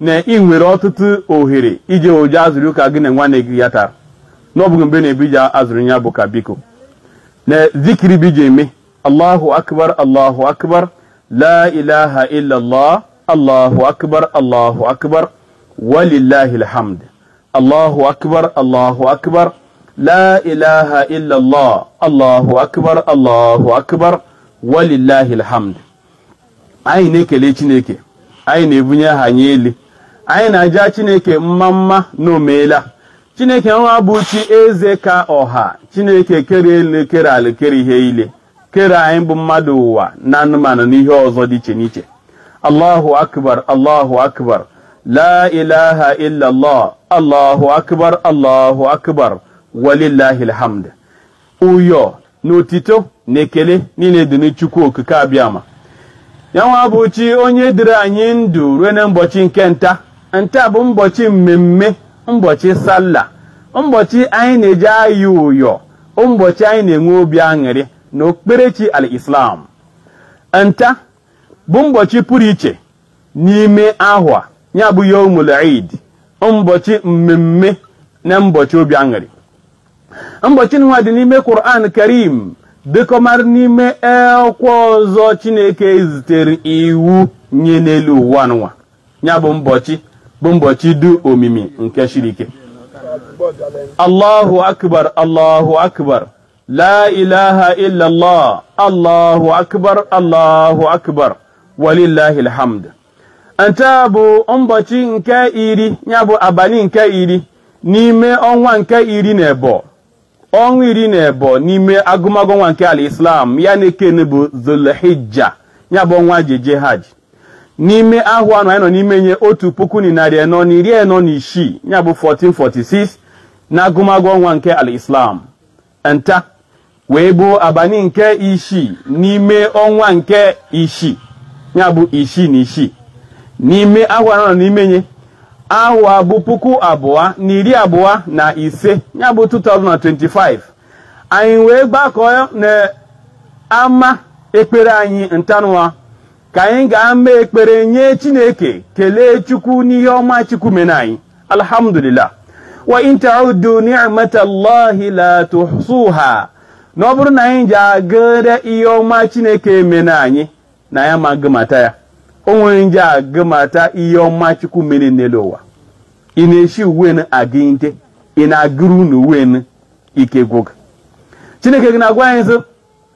na ị nwere ọtụtụ ohere ị je eji azụrụ ụka gị na nwanne gị ya tara na ọ bụghị mgbe na bụ ị je azụrụ ya bụ ụka biko na zikiri bụ ị je eme allahu akbar allahu akbar la ilaha illallah allahu akbar allahu akbar walillahi alhamd allahu akbar allahu akbar la ilaha illallah allahu akbar allahu akbar walillahi alhamd anyị na-ekele chineke anyị na-ebunye aha nye elu anyị na-aja chineke mma mma na omeela chineke nwa bụ chi eze ka ọha chineke kere elu kere ala kere ihe ile kere anyị bụ mmadụ ụwa na anụmanụ na ihe ọzọ dị iche n'iche allahu akbar allahu akbar la ilaha illallah allahu akbar allahu akbar walillahi alhamd ụyọ na otito na ekele niile dịrị Chukwu okike abịama ya nwa bụ chi onye debere anyị ndụ ruo na mbọchị nke nta nta bụ mbọchị mmemme mbọchị salla mbọchị anyị na-eji ayị ụyọ mbọchị anyị na-enwe obi aṅụrị na okpukperechi al-Islam nta bụ mbọchị pụrụ iche n'ime ahwa ya bụ yomul eid mbọchị mmemme na mbọchị obi aṅụrị mbọchị nụnwa dị n'ime Quran Karim dịkọmara n'ime ekwọ ọzọ Chineke zitere iwu nye n'elu ụwa nụnwa ya bụ mbọchị bụ mbọchị dụ omimi nke shiri ike Allahu akbar Allahu akbar la ilaha illallah Allahu akbar Allahu akbar walillahi alhamd nta bụ mbọchị nke iri ya bụ abalị nke iri n'ime ọnwa nke iri na ebo ọnwa iri na ebo n'ime agụmagụ ọnwa nke al-Islam ya na-ekene bụ zulhijja ya bụ ọnwa e ji eje hajj n'ime ahwa nụ anyị nọ n'ime nye otu puku na narị anọ na iri anọ na isii ya bụ 1446 na agụmagụ ọnwa nke al-Islam nta wee bụ abalị nke isii n'ime ọnwa nke isii ya bụ isii na isii n'ime ahwa a nọ n'ime nye ahwa bụ puku abụọ na iri abụọ na ise ya bụ 2025 anyị wee gbakọọ na ama ekpere anyị nta nụwa ka anyị gaa mee ekpere nye chineke kelee chukwu n'ihe ọma chukwu mere anyị alhamdulillah wa in ta'uddu ni'matallahi la tuhsuha na ọ bụrụ na anyị je agụrịa ihe ọma chineke mere anyị na anyị ama agụmata ya o nwere onye je agụmata ihe ọma chukwu mere n'elu ụwa ị na-eshi uwe n aga ite ị na-agụrụ unu uwe n ike gwụ gụ chineke gị na-agwa anyị sị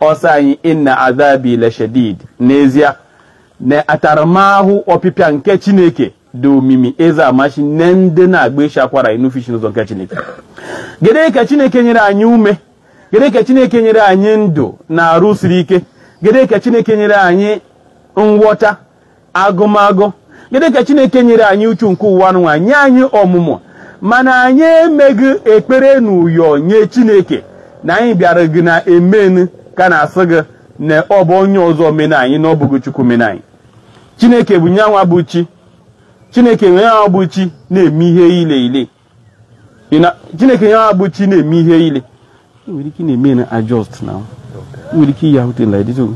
ọ sị anyị inna azabi lashadid n'ezie na ataramahụ ọpịpịa nke chineke dị omimi eze amachi nye ndị na-agba isi akwara na-enufu ishi n'ụzọ nke chineke gịnị ka chineke nyere anyị ume gịnị ka chineke nyere anyị ndụ na arụ siri ike gịnị ka chineke nyere anyị nghọta agụmagụ gịnị ka chineke nyere anyị uchu nke ụwa nwa nye anyị ọmụmụ mana anyị emeghị ekpere na ụyọ nye chineke na anyị bịara gị na emenu ka na-asị gị na ọ bụ onye ọzọ mena anyị na ọ bụghị chukwu mena anyị chineke bụ nyanwa bụ chi chineke nyanwa bụ chi na-eme ihe ile ile chineke ya bụ chi na-eme ihe ile nwere ike na-eme na adjust na nwere ike iyi ahụte na edito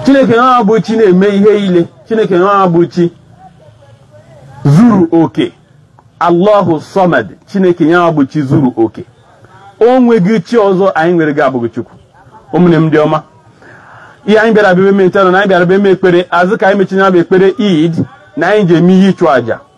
chineke ya bụ chi na-eme ihe ile chineke ya bụ chi zuru oke allahu samad chineke ya bụ chi zuru oke o nweghị chi ọzọ anyị nwere gị abụghị chukwu ụmụnne m ndị ọma ihe anyị bịara bịa eme ntanụ na anyị bịara bịa eme ekpere azụ ka anyị mechinye bụ ekpere id na anyị ji eme ihe ịchụ àjà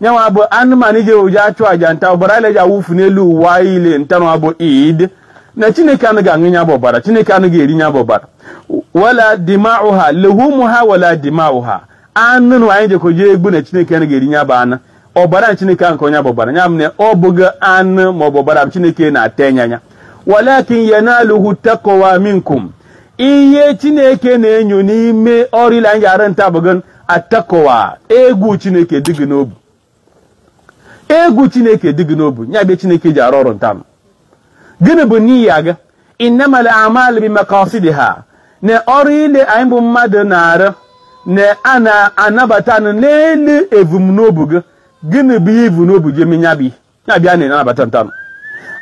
nyanwa bụ anụmanụ e ji eji achụ aja nta ọbara ile ji awụfu n'elu ụwa ile ntanwa bụ id na chineke anaghị aṅụ nya bụ ọbara chineke anaghị eri nya bụ ọbara wala dima'uha luhumuha wala dima'uha anụ nụ anyị jekoji egbu na chineke anaghị eri nya bụ anụ ọbara na chineke ahụ nke onye bụ ọbara nya m na ọ bụghị anụ ma ọ bụ ọbara m chineke na-atụ anya nya walakin yanaluhu taqwa minkum ihe chineke na-enyo n'ime ọrụ ile anyị ji arụ nta bụ gị at-taqwa egwu chineke dị gị n'obi egwu chineke dị gị n'obi ya bụ ihe chineke ji arụ ọrụ ntam gịnị bụ niyya gị innamal a'malu bi maqasidiha na ọrụ ile anyị bụ mmadụ na-arụ na a na-anabata n'elu ebumnobi gị gịnị bụ ihe i bu n'obi ji eme ya bụ ihe ya bụ ihe a na-anabata ntanụ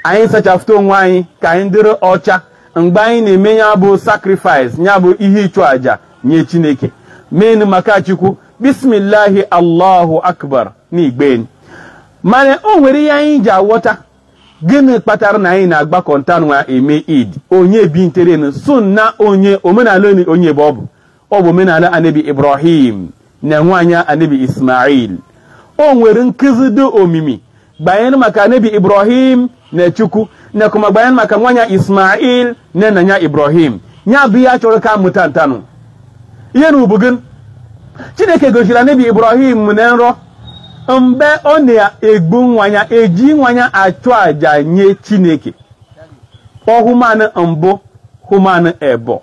anyị sachafụta onwe anyị ka anyị dịrị ọcha mgbe anyị na-eme ya bụ sacrifice ya bụ ihe ịchụ àjà nye chineke menu maka chukwu bismillahi allahu akbar na igben mana o nwere ihe anyị ji aghọta gịnị kpatara na anyị na-agbakọ ntanwa eme id onye bi nterenu sunna onye omenala onye bụ ọ bụ ọ bụ omenala anabi ibrahim na nwanya anabi ismail o nwere nkụzi dị omimi gbanyere maka anabi ibrahim na chukwu na kuma gbanyere maka nwanya ismail na nna ya ibrahim ya bụ ihe a chọrọ ka mụta ntanụ ihe nụ bụ gịnị chineke gosiri anabi ibrahim na nrọ mgbe ọ na-egbu nwanya e ji nwanya achụ aja nye chineke ọ hụma na mbụ hụma na ebọ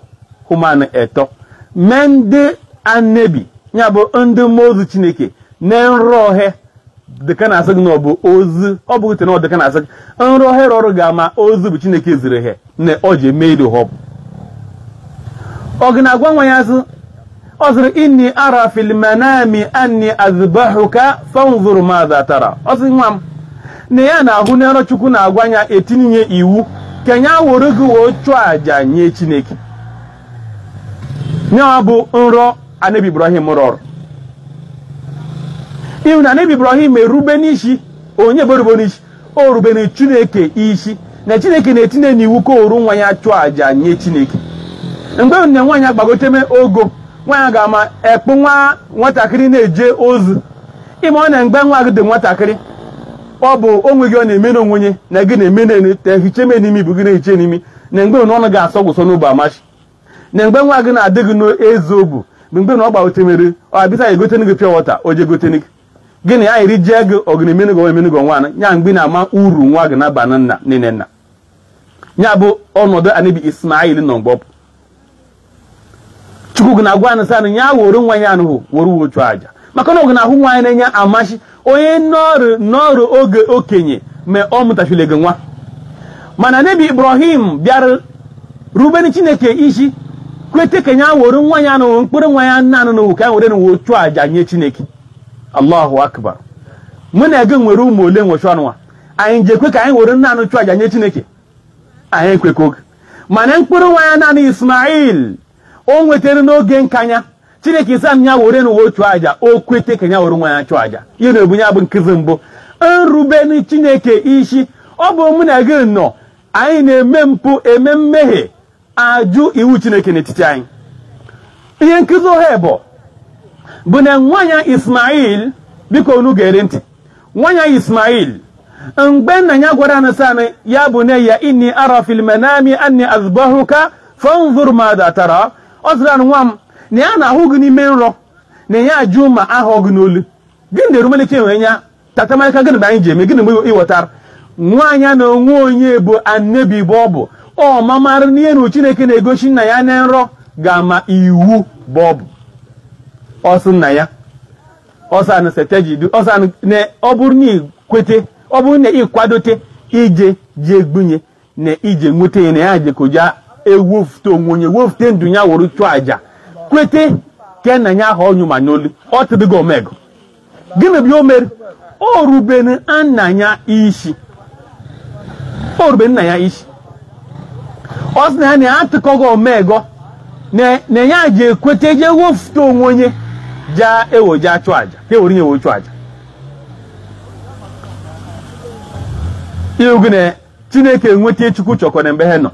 hụma na etọ mee ndị anebi ya bụ ndị mmụọ ozi chineke na nrọ he dịka na-asị gị na ọ bụ ozi ọ bụ ute na ọ dịka na-asị gị nrọ he rọrụ ga-ama ozi bụ chineke ziri ha na ọ ji eme ido họpụ ọ gị na-agwa nwa ya sị ọ sịrị inni ara fil manami anni azbahuka fanzur madha tara ọ sị nwa m na ya na-ahụ na nrọ chukwu na-agwa ya etinye iwu ka ya were gị wee chụọ aja nye chineke ya bụ nrọ anabi ibrahim rọrọ ị hụ na anabi ibrahim erube n'isi onye bụ o rube n'isi o rubere chineke isi na chineke na-etinye n'iwu ka o were nwa ya chụọ àjà nye chineke mgbe na nwa ya agbagoteme ogo nwa ya ga-ama ekpụ nwa nwatakịrị na-eje ozi ị ma na mgbe nwa gị dị nwatakịrị ọ bụ onwe gị ọ na-eme na onwe ya na gị na-eme na-ehiche me n'imi bụ gị na-ehiche n'imi na mgbe na ọnụ ga-asọ gị ụsọ n'obu amachi na mgbe nwa gị na-adị gị n'ezi obu bụ mgbe na ọ gbagotemere ọ abịsa egoten gị pure water o je goten gị gịnị anyị rijee gị ọgịniminigo eminigo nwana ya mgbe na-ama uru nwa gị na-aba na nna nne nna ya bụ ọnọdụ anabi ismail nọ mgbe ọ bụ chukwu gị na-agwanụ sanụ ya were nwa ya anụhụ were wee chụọ aja maka na ọ ga na-ahụ nwa ya n'anya amachi onye nọrụ nọrụ oge okenye ma ọ mụtachile gị nwa mana anabi ibrahim bịara rubere chineke isi kwete ka ya were nwa ya anụnwụ mkpụrụ nwa ya nna anụnụwụ ka ya were wee chụọ aja nye chineke allahu akbar mụ na gị nwere ụmụ ole nwechụ ọnụnwa anyị ji ekwe ka anyị were nna anụ chụ aja nye chineke anyị ekwekọ oge mana mkpụrụ nwa ya naanị ismail o nwetara n'oge nkanya chineke sanụ ya were wee chụọ aja o kwete ka ya were nwa ya chụ aja ihe na-ebu ya bụ nkụzi mbụ irube chineke isi ọ bụ mụ na gị nọ anyị na-eme mpụ eme mmehie ajụ iwu chineke n'etiti anyị ihe nkụzi ohe ebọ bụ na nwa ya ismail biko unu gere ntị nwa ya ismail mgbe nna ya gwaranụ sanụ ya bunayya inni ara fil manami anni azbahuka fanzur madha tara ọ sịrị nwa m na ya na-ahụ gị n'ime nrọ na ya ji mma aha gị n'olu gị na-erumelike enwe ya tatamarịka gịnị mgbe anyị ji eme gịnị mgbe ịghọtara nwa ya na onwe ya bụ anebi bụ ọ bụ ọ mamara na ihe na chineke na-egosi nna ya na nrọ ga-ama iwu bụ ọ bụ ọ sị nna ya ọ sanụ satajidu ọ sanụ na ọ bụrụ na i kwete ọ bụrụ na ị kwadote i je ji egbu ya na i je nweta ya na ya jekoja ewefute onwe ya wefute ndụ ya wụrụ chụọ aja kwete ke na ya aha ọnyụ mma n'olu ọ tụdịgo omego gịnị bụ ihe o mere o rubere nna ya isi o rubere nna ya isi ọ sị na ya na ya atụkọghị omego na na ya ji ekweta je wefute onwe nye ja ewo ja chụ aja ka ewere nye wee chụọ aja iwu gị na chineke nwete ihe chukwu chọkọ na mgbe ha nọ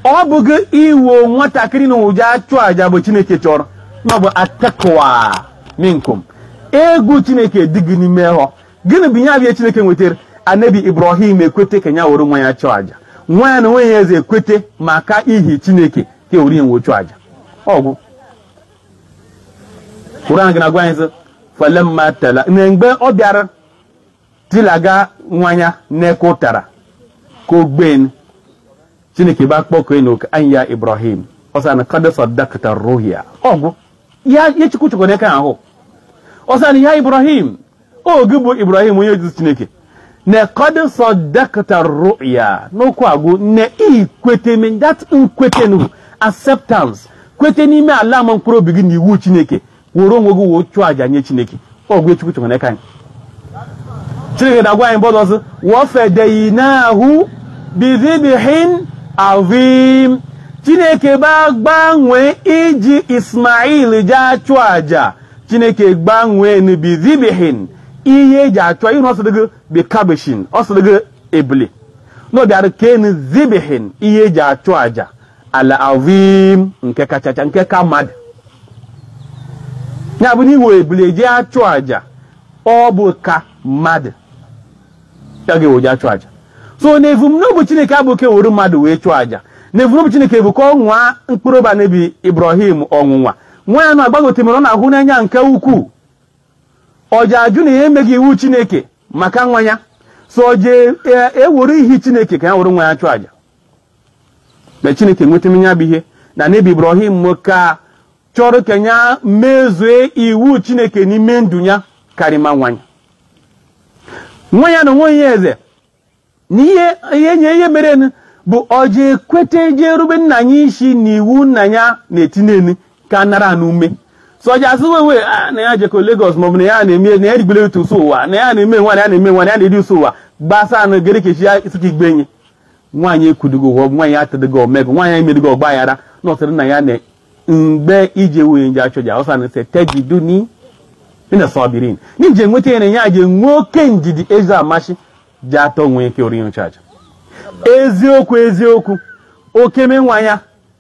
ọ bụghị iwo nwatakịrị na ụja achụ aja bụ chineke chọrọ na ọ bụ attaqwa minkum egwu chineke dị gị n'ime ahụ gịnị bụ ihe abịa chineke nwetara na nebi ibrahim ekwete ka ya were nwa ya chụọ aja nwa ya na onwe ya eze ekwete maka ihi chineke ka ewere ya wee chụọ aja ọ bụ kuran ji na-agwa anyị sị falamma tela na mgbe ọ bịara tilaga nwa ya n'eke ụtara ka ogben chineke bịa kpọkuo enu oku an ya ibrahim ọ sị na qad saddaqta ru'ya ọ bụ ihe chukwu chọkọ n'eke ahụ ọ sị na ya ibrahim o gị bụ ibrahim onye ozi chineke na qad saddaqta ru'ya n'okwu agwụ na i kweteme that nkwete nu acceptance kwete n'ime ala ala mkpụrụ obi gị na iwu chineke were onwe gị wee chụọ aja nye chineke ọ bụ ihe chukwu chọrọ n'aka anyị chineke na-agwa anyị bọdụ ọzọ wafadainahu bizibhin azim chineke gbanwe iji ismail ja achụ aja chineke gbanwee bizibhin ihe eji achụ aja ọ sịdịghị bi kabshin ọ sịdịghị ebule n'ọ bịara kenu zibhin ihe eji achụ aja al azim nke kachacha nke ka mmadụ ya bụ na iwe ebule eji achụ aja ọ bụ ka mmadụ ya ga-ewe ji achụ aja so na evumnobi chineke abụghị ka e were mmadụ wee chụọ aja na evumnobi chineke bụ ka ọ nwaa mkpụrụ obi nebi ibrahim ọnwụnwa nwa ya na-agbagote mere ọ na-ahụ n'anya nke ukwuu ọ ja ajụ na ya emeghị iwu chineke maka nwa ya so ọ ja ewere ihi chineke ka ya were nwa ya chụọ aja na chineke nwetara ya bụ ihe na nebi ibrahim ka chọrọ ka ya mezue iwu chineke n'ime ndụ ya karịma nwa ya nwa ya na onwe ya eze na ihe ihe nye ihe mere nụ bụ o ji ekwete je erube nna ya isi na iwu nna ya na-etinye enu ka nara n'ume so o ji asị wewe "Ah, na ya jekọ Lagos maọbụ na ya na-eme na ya rigbere otu ụsọ ụwa na ya na-eme nwa na ya na-eme nwa na ya na-eri ụsọ ụwa gbasa anụ gere kechi ya isi ka igbe enyi nwa nye ekwudịghị ụgwọ nwa nye atụdịghị omego nwa nye emedịghị ọgba aghara na ọ sịrị nna ya na mgbe i je ewe nye je achụ aja ọ sị na satajiduni minas sabirin n'i je enweta ya na ya ji nwee oke ndidi eze amachi ji atọ nwee ike ori nchaja eziokwu eziokwu okeme nwa ya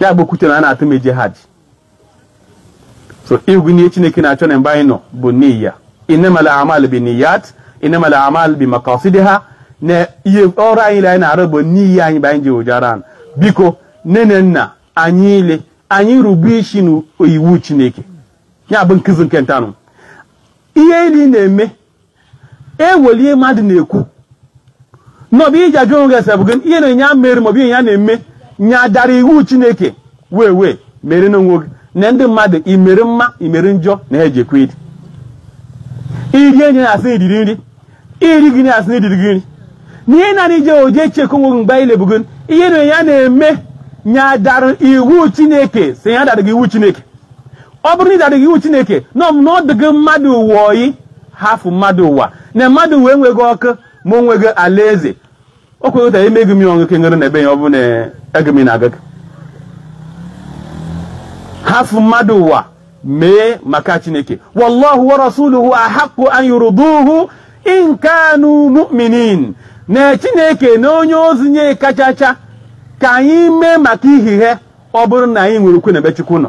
ya gbokwute na a na-atụ m eje hajj so ị hụ na ihe chineke na-achọ n'ebe anyị nọ bụ niya innamal amal bi niyat innamal amal bi makasidiha na ihe ọrụ anyị ile anyị na-arụ bụ niya anyị bụ anyị ji oje arụ biko nne na nna anyị ile anyị rube isi n'iwu chineke ya bụ nkụzi nke ntanụ ihe ile ị na-eme eweli ihe mmadụ na-ekwu na ọ bụ iji ajụ onwe gị sị ọ bụ gịnị ihe nụ ya mere maọbụ ihe ya na-eme nye adara iwu chineke wee wee mere n'onwe gị na ndị mmadụ i mere mma i mere njọ na ha ejekwa iri iri enye na asị na i riri nri iri gị na asị na i ririghị nri na ihe na ije oje chekwa onwe gị mgbe anyị lebugo ihe nụ ya na-eme nye adara iwu chineke si ya daraghị iwu chineke ọ bụrụ na ị dadịghị iwu chineke na na ọ dịghị mmadụ ụwa oyi hafụ mmadụ ụwa na mmadụ ụwa enweghị ọkụ ma o nweghị alaeze o kweghịta emeghị m ya ọṅụ kenyere na ebe ya ọ bụ na ego m na-aga gị hafụ mmadụ ụwa mee maka chineke wallahu wa rasuluhu ahaqu an yurduhu in kanu mu'minin na chineke na onye ozi nye kachacha ka anyị mee maka ihi ha ọ bụrụ na anyị nwere okwukwe na ebe chukwu nọ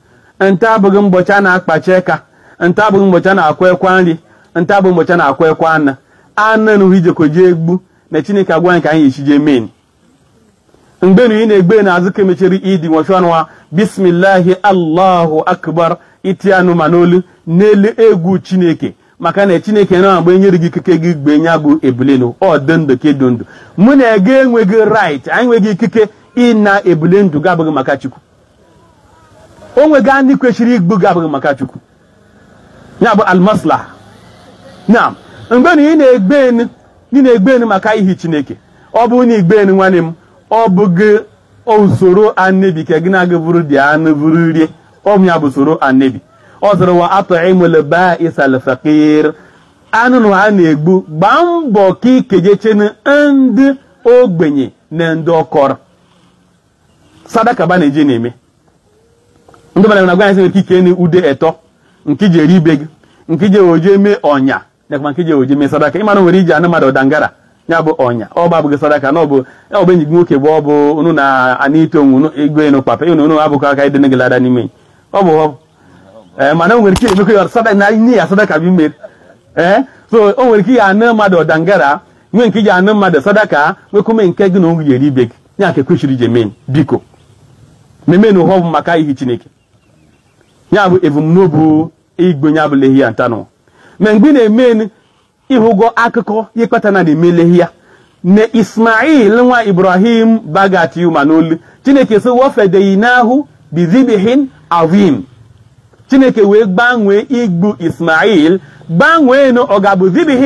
nta abụghị mbọchị a na-akpachi eka nta abụghị mbọchị a na-akwa ekwa nri nta abụghị mbọchị a na-akwa ekwa anụ anụ enụhụ ị jekọ jee egbu na chineke agwa anyị ka anyị echi jee mee mgbe na ị na-egbu na azụ ka emechiri idi nwọchi ọnụ ha bismillahi allahu akbar iti anụ mma n'olu n'elu egwu chineke maka na chineke na agba enyere gị ikike gị gbuo nya bụ ebule nụ ọ dị ndụ ka ị dị ndụ mụ na gị enweghị right anyị nweghị ikike ịna ebule ndụ gị abụghị maka chukwu o nweghị anụ kwesịrị igbu gị abụghị maka chukwu ya bụ almaslaha na mgbe na ị na-egbu anụ ị na-egbu anụ maka ihi chineke ọ bụ na igbu anụ nwanne m ọ bụghị usoro annebi ka gị na-agụ buru dị anụ buru rie ọ bụ ya bụ usoro annebi ọ sịrị wa at'imul ba'isal fakir anụ na a na-egbu gbaa mbọ ka i kejechenụ ndị ogbenye na ndị ọ kọrọ sadaka ba na-eje na-eme ndị mmadụ na-agwa anyị sị nke ike na ụdị etọ nke iji eri be gị nke iji oje mee ọnya nakwa nke iji oje mee sadaka ị mara nwere iji anụ mmadụ dangara ya bụ ọnya ọ bụ abụghị sadaka na ọ bụ ya ọ bụ enyi gị nwoke bụ ọ bụ unu na ana ito onwe unu ego enu papa unu unu abụkọ aka ịdị gị lada n'ime ọ bụ ọ ee mana o nwere ike emekọ ya sadaka na ọnya sadaka bụ ime ee so o nwere ike ya anụ mmadụ dangara nwee nke iji anụ mmadụ sadaka nwekwume nke gị na onwe ya eri be gị ya ka e kwesịrị iji mee biko memenụ ihe ọ bụ maka ihi chineke ya bụ ebumnobi igbu ya bụ lehiya ntanụ ma mgbe ị na-eme ịhụgo akụkọ ihe kpata na a na-eme lehiya na ismail nwa ibrahim bụ a ga-eti mma n'olu chineke sị wa fadaynahu bizibihin azim chineke wee gbanwee igbu ismail gbanwee na ọ ga-abụ zibihin